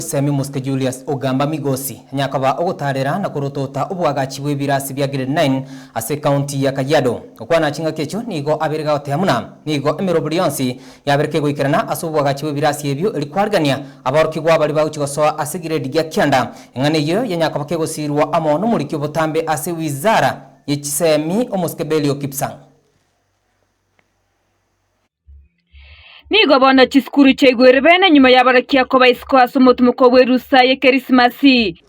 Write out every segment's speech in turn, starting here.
Omoisemi Musike Julius Ogamba Migosi anyare koba ogotaarera na korotota obwagachi bw'ebirasi bia Grade Nine ase ecounty ya Kajiado. Okwana ching'aki echio nigo abeire gaotea buna nigo emerobori yonsi yabereka egoikerana ase obwagachi bw'ebirasi ebio erio kwarigereria aborokigwa baria bagochi gosoa ase grade gia kianda. Eng'ana eyio yanyare koba kegosiirwa amo nomoriki obotambe ase Wizara ye Chiseemi Omosike Belio Kipsang. Nigo bono chisukuru chaigwere bene nyuma y'abagakia koba isiko ase omotumoko bw'erusa y'Ekerisimasi.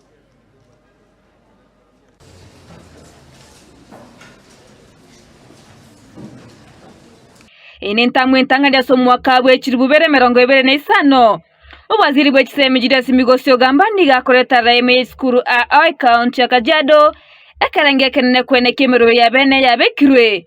Eye nentang'u entang'ani ase omwaka bwe chilifu bere emerongo ebere na isano. Obwaziri bwe chisemi Julius Migosi Ogamba nigo akorete araime ya isukuru aa ekaonti ya Kajiado, ekerengo ekenene kwene ki'emeroro ya bene yabekirwe